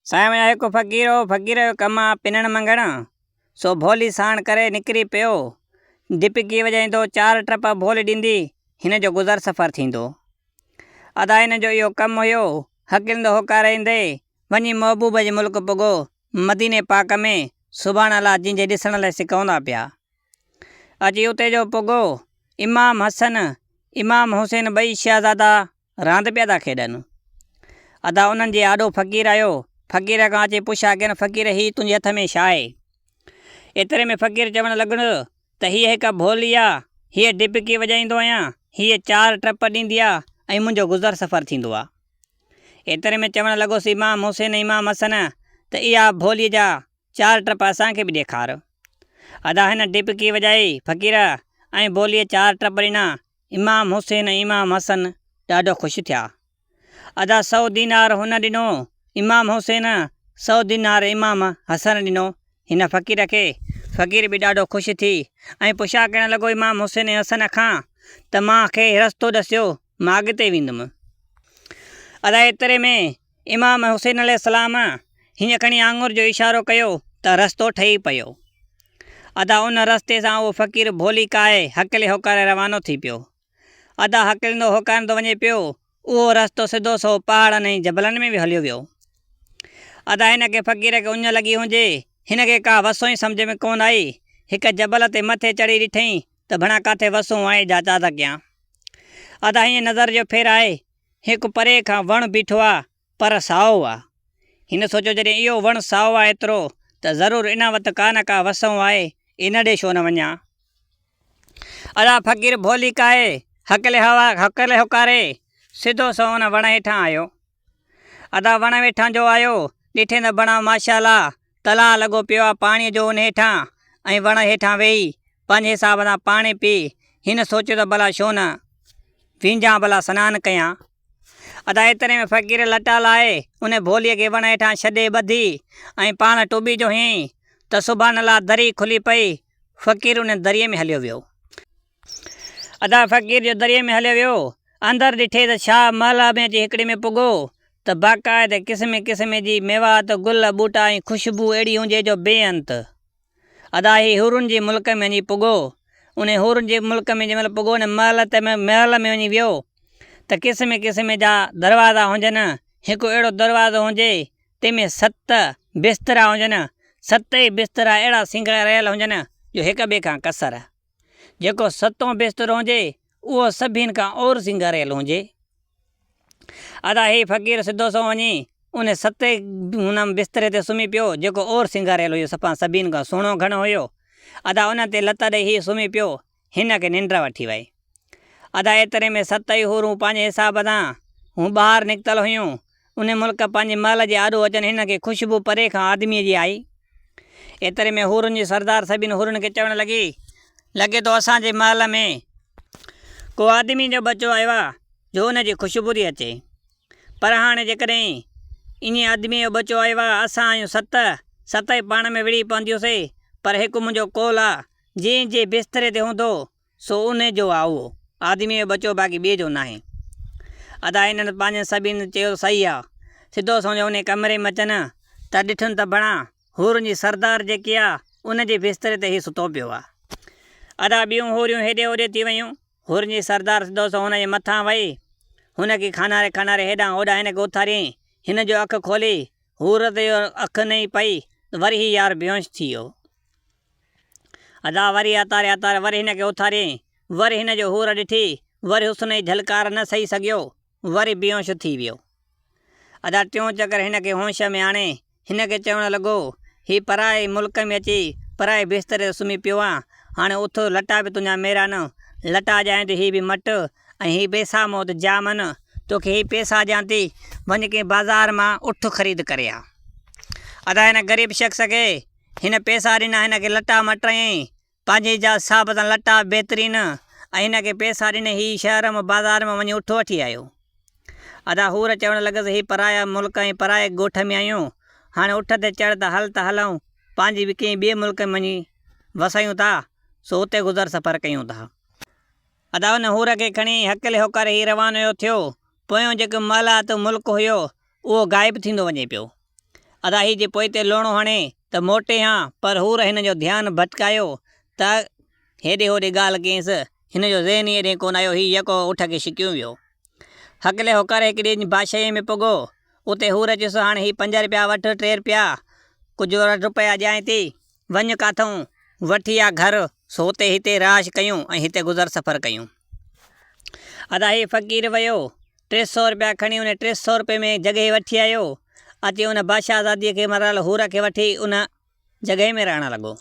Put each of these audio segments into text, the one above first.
سائينء هڪ فقير هو، فقير جو ڪم آ پنڻ منگڻ، سو ڀولي ساڻ ڪري نڪري پيو. دپڪي وڄائيندو، چار ٽپ ڀولي ڏيندي، هن جو گذر سفر ٿيندو. ادا هن جو اهو ڪم هيو، هڪلندو هوڪاريندي، وڃي محبوب جي ملڪ پڳو، مديني پاڪ ۾، سبحان الله جنهن جي ڏسڻ لئه سڪوندا پيا. اچي اتي جو پڳو، امام حسن، امام حسين ٻئي شهزادا، راند پيا ٿا کيڏن. ادا انهن جي آڏو فقير آيو، فقير کان اچي پڇ آ ڪين فقير هي تنهنجي هٿ ۾ ڇا آهي؟ ايتري ۾ فقير چوڻ لڳڻ ته هيء هڪ ڀولي آ، هيء ڊپڪي وڄائيندو آهيان، هيء چار ٽپ ڏيندي آ ۽ منهنجو گذر سفر ٿيندو آ. ايتري ۾ چوڻ لڳس امام محسن امام حسن ته اها ڀولي جا چار ٽپ اسان کي به ڏيکار. ادا هن ڊپڪي وڄائي فقير ۽ ڀوليء چار ٽپ ڏنا امام حسين ۽ امام حسن ڏاڍو خوش ٿيا. ادا سؤ دينار هن ڏنو، امام حسين سؤ دينار امام حسن ڏنو هن فقير کي، فقير به ڏاڍو خوش ٿي ۽ پڇا ڪرڻ لڳو امام حسين ۽ حسن کان ته مان کي رستو ڏسيو مان اڳتي ويندم. ادا ايتري ۾ امام حسين عليه السلام هيئن کڻي آڱر جو اشارو ڪيو ته رستو ٺهي پيو. ادا ان رستي سان اهو فقير ڀولي ڪاهي هڪلي هوڪاري روانو ٿي پيو. ادا هڪليندو هوڪاريندو وڃي پيو، اهو رستو سڌو سنئون پهاڙن ۽ جبلن ۾ به هليو ويو. ادا هن کي فقير کي اڃ لڳي هجي، هن کي ڪا وسون ئي سمجهه ۾ ڪونه آئي، هڪ جبل تي مٿي چڙهي ڏٺئين ته ڀڻا ڪاٿي وسون آهي جا چاڌڪ ڪيان. ادا هيئن نظر جو ڦير آهي هڪ پري کان وڻ بيٺو آ پر سائو آ. هن سوچيو جڏهن اهو وڻ سائو آ ايترو ته ضرور ان وٽ ڪا نه ڪا وسهون آهي ان ڏي ڇو نه وڃان. ادا فقير ڀولي ڪاهي هڪلي هڪلي هوڪاري سڌو سنئون ان وڻ هيٺان آيو. ادا وڻ ويٺان جو آيو ڏٺين ته بڻا ماشاء الله تلاء لڳو پيو آ پاڻيء جو ان هيٺان ۽ وڻ هيٺان ويهي پنهنجي حساب سان پاڻي پي هن سوچيو ته ڀلا ڇو نه وينجهان ڀلا سنان ڪيان. ادا ايتري ۾ فقير لٽا لاهي ان ڀوليء کي وڻ هيٺان ڇڏي ٻڌي ۽ پاڻ ٽٻي جو هنيائين ته سبحان الله دري کلي پئي فقير ان دريء ۾ هليو ويو. ادا فقير جو دريء ۾ هليو ويو. اندر ڏٺي ته شاهه محله ۾ اچي هڪڙي ۾ پڳو ته باقاعده قسمي قسمي جي ميوات، گل، ٻوٽا ۽ خوشبو اهڙي هونجي جو بي انت. ادا هي حورن جي ملڪ ۾ وڃي پڳو. انهي حورن جي ملڪ ۾ جنهن مهل پڳو انهي محل ته محل ۾ وڃي ويو ته قسمي قسمي جا دروازا هونجن. هڪ اهڙو دروازو هونجي تنهن ۾ ست بسترا هونجن. ستئي بسترا اهڙا سينگاريل هونجن جو هڪ ٻئي کان ڪسر. جيڪو ستون بسترو هونجي اهو سڀين کان اور سنگاريل هونجي. ادا هي فقير سڌو سنئون وڃي ان ستي هن بستري تي سمهي پيو جيڪو اور سنگاريل هيو سپان سڀين کان سهڻو گهڻ هيو. ادا ان تي لت ڏئي هي سمهي پيو هن کي ننڊ وٺي وئي. ادا ايتري ۾ ستئي حورون پنهنجي حساب سان هون ٻاهر نڪتل هيون ان ملڪ پنهنجي محل جي آڏو اچن هنن کي خوشبو پري کان آدميء جي آئي. ايتري ۾ حورن جي سردار سڀني حورن کي چوڻ لڳي، لڳي ٿو اسان جي محل ۾ ڪو آدميء جو ٻچو آيو آهي جو ان جي خوشبو ٿي اچي. پر هاڻي جيڪڏهن انهيء آدميء جو ٻچو آيو آهي اسان آهيون ست، ستئي پاڻ ۾ وڙهي پونديون سي، پر هڪ منهنجو قول آهي جنهن جي بستري تي هوندو سو ان جو آ اهو. آدميء جو ٻچو باقي ٻئي جو ناهي. ادا هنن پنهنجن سڀيئن جو چيو صحيح آ. سڌو سنئون انهيء ڪمري ۾ اچن ها ته ڏٺن ته بڻا حورن جي سردار جيڪي آ ان جي بستري تي هي ستو پيو آ. ادا ٻيون حوريون هيڏي هوڏي ٿي ويون. حورن جي سردار سڌو سنئون هن جي مٿان وهي هن کي کاناري کاناري هيڏانهن هوڏانهن هن کي اٿاريائين. هن جو اک کولي حور تي اک نئي پئي ته وري هي يار بيهوش ٿي ويو. ادا وري اتاري اتاري وري هن کي اٿاريائين. وري هن جو حور ڏٺي وري حسن جي جهلڪار نه سهي سگهيو وري بيهوش ٿي ويو. ادا ٽيون چڪر هن کي هوش ۾ آڻي هن کي چوڻ لڳو هي پرائي ملڪ ۾ اچي پرائي بستري تي سمهي پيو آهين هاڻي اٿ لٽا به تنهنجا ميرا نه لٽا جانء ته هي به مٽ ۽ هي پيسا مون وٽ جام آهن، تو کي هي پيسا ڏيان ٿي، وڃ ڪنهن بازار مان اٺ خريد ڪري آ. ادا هن غريب شخص کي هن پيسا ڏنا، هن کي لٽا مٽايائين، پنهنجي جا حساب سان لٽا بهترين ۽ هن کي پيسا ڏني، هي شهر مان بازار مان وڃي اٺ وٺي آيو. ادا حور چوڻ لڳس، هي پرايا ملڪ ۽ پرائي ڳوٺ ۾ آهيون، هاڻي اٺ تي چڙهه ته هل ته هلئون، پنهنجي به ڪنهن ٻئي ملڪ ۾ وڃي وسايون ٿا، سو اتي گذر سفر ڪيون ٿا. ادا ان حور کي کڻي هڪلي هوڪار هي روانيو ٿيو، پويون جيڪو مالات و ملڪ هيو، اهو غائب ٿيندو وڃي پيو. ادا هي جي پوئتي لوڻو هڻي ته موٽي هان، پر حور هن جو ڌيان ڀٽڪايو ته هيڏي هوڏي ڳالهه ڪينس، هن جو ذهن ئي ايڏي ڪونه آيو، هي يڪو اٺ کي شڪيون ويو. هڪلي هوڪار هڪ ڏينهن بادشاهيء ۾ پڳو، اتي حور چيس هاڻ هي پنج رپيا وٺ، ٽي رپيا، ڪجهه روپيا ڏيانء ٿي، وڃ ڪاٿئون وٺي آ گهر، سو تي هتي رهائش ڪيون ۽ هتي گذر سفر ڪيون. ادا هي فقير ويو، ٽي سؤ رپيا کڻي ان ٽي سؤ رپئي ۾ جڳهي وٺي آيو، اچي ان بادشاهه زاديء کي مريل حور کي وٺي ان جڳهي ۾ رهڻ لڳو.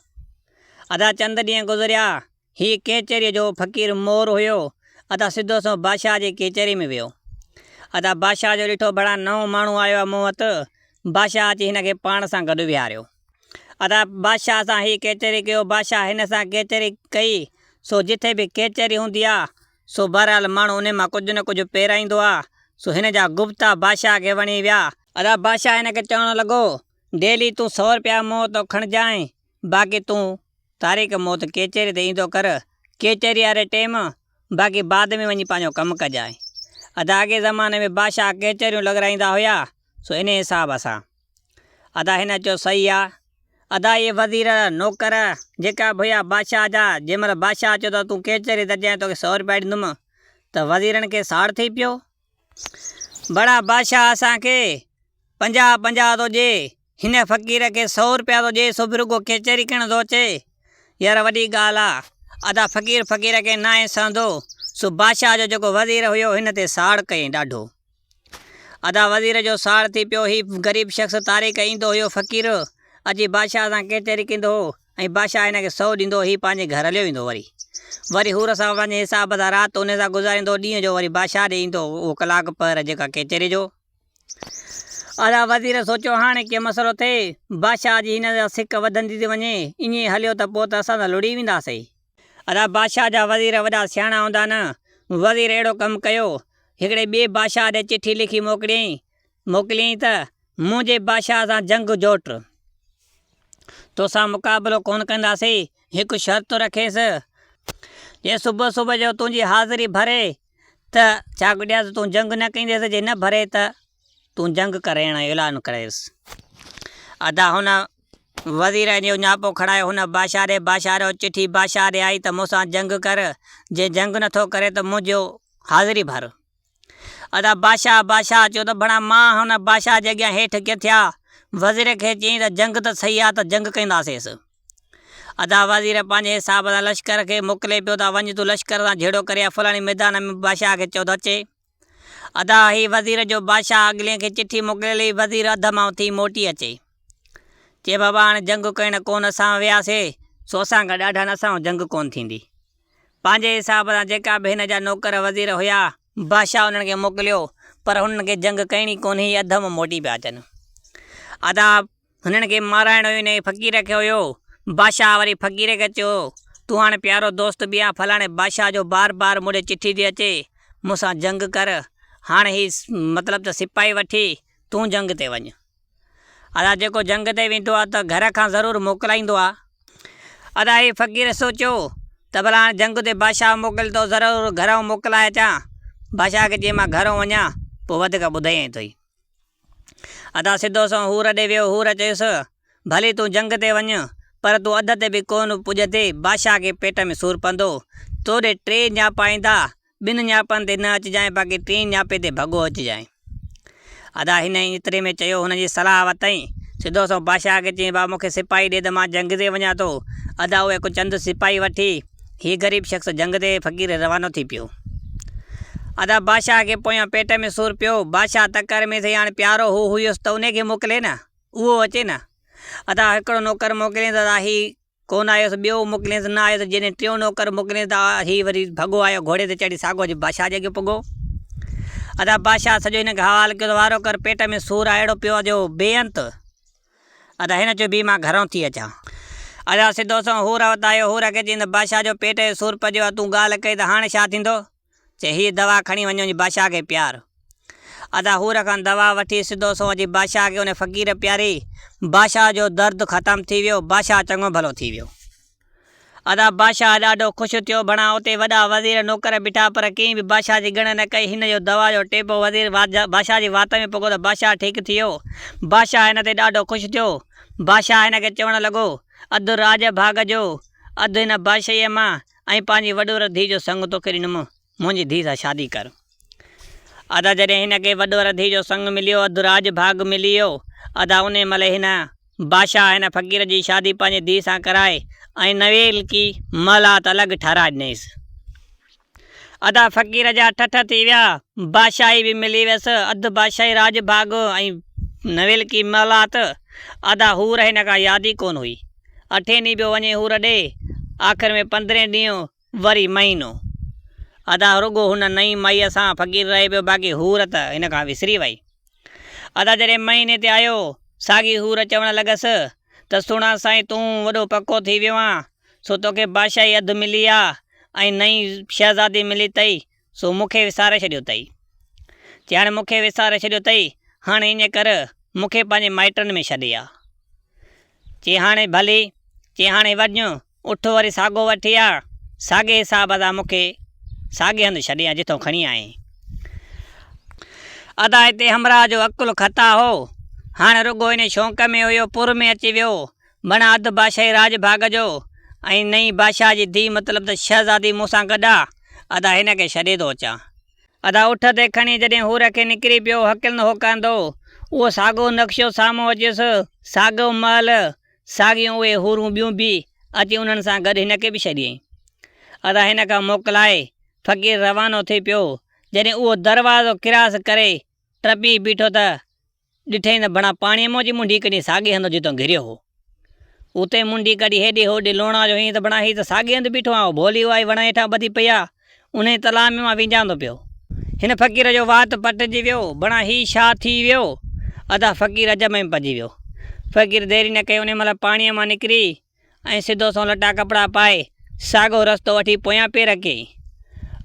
ادا چند ڏينهن گذريا، هي ڪيچريء جو فقير مور هيو. ادا سڌو سنئون بادشاهه جي ڪيچريء ۾ ويو. ادا بادشاهه جو ڏٺو ڀلا نئون ماڻهو آيو آهي مون وٽ. بادشاهه اچي هن کي پاڻ سان گڏ ويهاريو. ادا بادشاهه سان هي ڪيچري ڪيو. بادشاهه هن سان ڪيچري ڪئي. سو جتي به ڪيچري هوندي آ، سو بهرحال ماڻهو انهي مان ڪجهه نه ڪجهه پيرائيندو آ. سو هن جا گفتا بادشاهه کي وڻي ويا. ادا بادشاهه هن کي چوڻ لڳو، ڊيلي تون سؤ رپيا مون وتو کڻجانء. باقي تون تاريخ موت ڪيچيري تي ايندو ڪر ڪيچيري واري ٽيم باقي بعد ۾ وڃي پنهنجو ڪم ڪجانء. ادا اڳئين زماني ۾ بادشاهه ڪيچيريون لڳرائيندا هيا سو انهي حساب سان. ادا هن چيو صحيح آ. ادا اهي وزير، نوڪر جيڪا به هيا بادشاهه جا جنهن مهل بادشاهه چيو ته تون ڪيچيري ته جئين توکي سؤ روپيا ڏيندم ته وزيرن کي ساڙ ٿي پيو. بڙا بادشاهه اسان کي پنجاهه پنجاهه ٿو ڏي، هن فقير کي سئو روپيا ٿو ڏي، سو به رڳو ڪچهري ڪرڻ ٿو اچي. يار وڏي ڳالهه آ، ادا فقير فقير کي ناهي سهندو. سو بادشاهه جو جيڪو وزير هيو هن تي ساڙ ڪيائين ڏاڍو. ادا وزير جو ساڙ ٿي پيو، هي غريب شخص طاري ڪري ايندو هيو فقير اچي بادشاهه سان ڪچهري ڪندو هو. ۽ بادشاهه هن کي سئو ڏيندو هي پنهنجي گهر هليو ويندو وري وري حور سان پنهنجي حساب سان رات انهي سان گذاريندو ڏينهن جو وري بادشاهه ڏي ايندو اهو ڪلاڪ پهر جيڪا ڪچهري جو ادا وزير سوچيو هاڻي ڪي مسئلو ٿئي بادشاهه جي هن سان سڪ وڌندي ٿي وڃي ائين هليو ته پوء ته اسان ته لڙي وينداسي. ادا بادشاهه جا وزير وڏا سياڻا هوندا نه وزير اهڙو ڪم ڪيو هڪڙي ٻئي بادشاهه ڏي چٺي لکي موڪليائين موڪليئين ته منهنجي بادشاهه سان جنگ جوٽ. توسان مقابلو ڪونه ڪنداسين. هڪ شرط رکيس. جي صبح صبح جو تنهنجي حاضري ڀري ته چاڪ ڏيان ته تون جنگ نه ڪنديس، جي نه ڀري ته تون جنگ ڪرڻ جو اعلان ڪريس. ادا هن وزير جو نياپو کڻائي هن بادشاهه ڏي باشاريو. چٺي بادشاهه ڏي آئي ته مون سان جنگ ڪر، جي جنگ نٿو ڪرين ته منهنجو حاضري ڀر. ادا بادشاهه بادشاهه چيو ته ڀڻا مان هن بادشاهه جي اڳيان هيٺ ڪٿيا؟ وزير کي چيائين ته جنگ ته صحيح آ ته جنگ ڪنداسينس. ادا وزير پنهنجي حساب سان لشڪر کي موڪلي پيو ته وڃ تون لشڪر سان جهيڙو ڪري آ فلاڻي ميدان ۾ بادشاهه کي چئو ته اچي. ادا هي وزير جو بادشاهه اڳلين کي چٺي موڪليل هئي وزير اڌ مان اٿي موٽي اچي. چئي بابا هاڻي جنگ ڪرڻ ڪون اسان وياسي سو اسان کان ڏاڍا نه اسان سان جنگ ڪون ٿيندي. پنهنجي حساب سان جيڪا به هن جا نوڪر وزير هيا. بادشاهه انهن کي موڪليو، پر هنن کي جنگ ڪئڻي ڪونهي هي اڌ م موٽي پيا اچن. ادا هنن کي مارائڻو ئي انهيء فقير کي هيو. بادشاهه وري فقير کي چيو، تون هاڻ پيارو دوست به آهين فلاڻي بادشاهه جو بار بار مون ڏي چٺي ٿي اچي، مون سان جنگ ڪر، هاڻ هي مطلب ته سپاهي وٺي تون جنگ تي وڃ. ادا جيڪو جنگ تي ويندو آ ته گهر کان ضرور موڪلائيندو آ. ادا هي فقير سوچيو ته ڀلا هاڻ جنگ تي بادشاهه موڪلي ٿو ضرور گهرئون موڪلائي اچان. بادشاهه کي چيائين مان گهرئون وڃان پوء وڌيڪ ٻڌيئين ٿو ئي. ادا سڌو سنئون حور ڏي ويو حور چيس ڀلي تون جنگ تي وڃ پر تون اڌ تي به ڪونه پڄندين بادشاهه کي پيٽ ۾ سور پوندو توڏي ٽي نياپا ايندا ٻن ڃاپن تي نه اچجانء باقي ٽين ڃاپي تي ڀڳو اچجانء. ادا هن ائين ايتري ۾ چيو هن جي صلاح ورتائين. سڌو سنئون بادشاهه کي چيائين بابا مون کي سپاهي ڏي ته مان جنگ تي وڃان ٿو. ادا اهي ڪو چند سپاهي وٺي هي غريب شخص جنگ تي فقير روانو ٿي پيو. ادا بادشاهه کي پويان پيٽ ۾ سور پيو. بادشاهه تڪڙ ۾ ٿئي هاڻ پيارو هو هيس ته انهي کي موڪلين ها. اهو اچي ها. ادا هڪڙو نوڪر موڪلين ته ادا هي. ڪو نه آيس، ٻيو موڪلينس، نه آيس، جيڏين ٽيون نوڪر موڪلينس ته هي وري ڀڳو آيو، گهوڙي تي چڙهي ساگو جي بادشاهه جي اڳيان پڳو. ادا بادشاهه سڄو هن کي حوال ڪيو ته وارو ڪر پيٽ ۾ سور آ اهڙو پيو آ جو بي انت. ادا هن چيو بي مان گهران ٿي اچان. ادا سڌو سنئون حور وٽ آيو، حور کي چيائين ته بادشاهه جو پيٽ جو سور پجيو آ، تون ڳالهه ڪئي ته هاڻي ڇا ٿيندو؟ چي هيء دوا کڻي وڃو جي بادشاهه کي پيار. ادا حور کان دوا وٺي سڌو سنئون اچي بادشاهه کي ان فقير پياري. بادشاهه جو درد ختم ٿي ويو، بادشاهه چڱو ڀلو ٿي ويو. ادا بادشاهه ڏاڍو خوش ٿيو، بڻان اتي وڏا وزير نوڪر بيٺا پر ڪنهن به بادشاهه جي ڳڻ نه ڪئي، هن جو دوا جو ٽيپو وزير بادشاهه جي وات ۾ پڳو ته بادشاهه ٺيڪ ٿي ويو. بادشاهه هن تي ڏاڍو خوش ٿيو. بادشاهه هن کي چوڻ لڳو، اڌ راڄ ڀاڳ جو، اڌ هن بادشاهيء مان. ۽ پنهنجي وڏور ڌيء جو سڱ توکي ڏنم، منهنجي ڌيء سان شادي ڪر. ادا جڏهن هن کي وڏور ڌيء جو سڱ مليو، اڌ راڄ ڀاڳ ملي ويو. ادا انهيء مهل هن بادشاهه هن فقير جي شادي پنهنجي ڌيء سان ڪرائي ۽ نويلڪي محلات الڳ ٺهرائي ڏنيس. ادا فقير جا ٺٺ ٿي ويا، بادشاهي به ملي ويس، اڌ بادشاهي راڄ ڀاڳ ۽ نويلڪي محلات. ادا حور هن کان ياد ئي ڪونه هئي. اٺين ڏينهن پيو وڃي حور ڏي، آخر ۾ پندرهين ڏينهن وري مهينو. ادا رڳو هن نئين مائيء سان فقير رهي پيو باقي حور ته هن کان وسري وئي. ادا جڏهن مهيني تي آيو، ساڳي حور چوڻ لڳس ته سهڻا سائين تون وڏو پڪو ٿي ويو آن، سو توکي بادشاهي اڌ ملي آ ۽ نئين شهزادي ملي تئي، سو مون کي وساري ڇڏيو تئي. جي هاڻي مون کي وساري ڇڏيو تئي، هاڻي ائين ڪر مون کي پنهنجي مائٽن ۾ ڇڏي آ. چي هاڻي ڀلي، چي هاڻي وڃ، اٺ وري ساڳو وٺي آ، ساڳي حساب سان مون کي ساڳي هنڌ ڇڏي آ جتئون کڻي آئين. ادا هتي همراهه جو عقل خطا هو، هاڻي رڳو انهي شونق ۾ هيو پور ۾ اچي ويو، بڻ اڌ بادشاهي راڄ ڀاڳ جو ۽ نئين بادشاهه جي ڌيء مطلب ته شهزادي مون سان گڏ آ، ادا هن کي ڇڏي ٿو اچان. ادا اٺ تي کڻي جڏهن حور کي نڪري پيو هڪلن هوڪاندو، اهو ساڳيو نقشو سامهون اچيس، ساڳيو محل، ساڳيون اهي حورون ٻيون به، اچي انهن سان گڏ هن کي به ڇڏيائين. ادا هن کان موڪلائي، فقير روانو ٿي پيو، جڏهن اهو دروازو ڪراس ڪري، ٽپي بيٺو ته، ڏٺئي ته بڻا پاڻيء مان اچي منڍي ڪڍي ساڳئي هنڌ جتان گهريو هو، اتي منڍي ڪڍي هيڏي هوڏي لوڻا جو هيئن ته بڻا هي ته ساڳئي هنڌ بيٺو آهي. ڀولي اها ئي وڻ هيٺان ٻڌي پئي آهي، انهيء تلاء ۾ مان وينجهاندو پيو. هن فقير جو وات پٽجي ويو. بڻا هي ڇا ٿي ويو؟ ادا فقير عجب ۾ پئجي ويو. فقير ديري نه ڪئي انهيء مهل پاڻيء مان نڪري ۽ سڌو سنئون لٽا ڪپڙا پائي ساڳئو رستو وٺي پويان پير اڪي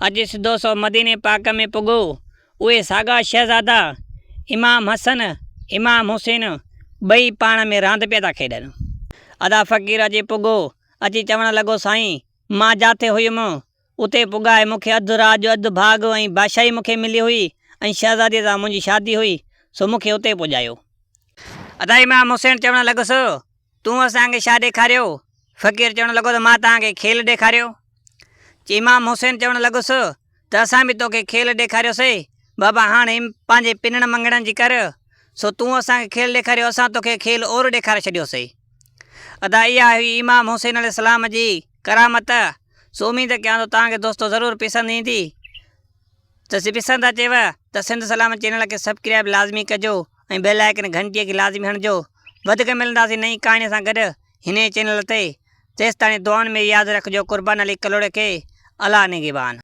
اچي سڌو سنئون مديني پاڪ ۾ پڳو اهي ساڳا شهزادا امام حسن امام حسين ٻئي پاڻ ۾ راند پيا ٿا کيڏن. ادا فقير اچي پڳو اچي چوڻ لڳو سائين مان جاٿي هيم اتي پڳائي مون کي اڌ رات جو اڌ ڀاڳ ۽ بادشاهي مون کي ملي هئي ۽ شهزاديء سان منهنجي شادي هئي، سو مون کي اتي پڄايو. اتي امام حسين چوڻ لڳس، تون اسان کي ڇا ڏيکاريو؟ فقير چوڻ لڳو ته مان توهان کي کيل ڏيکاريو. امام حسين چوڻ لڳس ته اسان به توکي کيل ڏيکاريوسي، بابا هاڻ ايم پنهنجي پنڻ مڱڻن جي ڪر، سو تون اسان کي کيل ڏيکاريو، اسان توکي کيل اور ڏيکاري ڇڏيوسي. ادا اها هئي امام حسين عليه السلام جي ڪرامت. سو اميد ڪيان ٿو توهان کي دوستو ضرور پسند ايندي ته جي پسند اچيو ته سنڌ سلام چينل کي سبڪرائب لازمي ڪجو ۽ بيل آئڪن گھنٽي کي لازمي هڻجو وڌيڪ ملنداسين نئين ڪهاڻي سان گڏ هن ئي چينل تي تيستاڻي دعائن ۾ ياد رکجو قربان علي ڪلهوڙي کي الله نگهبان.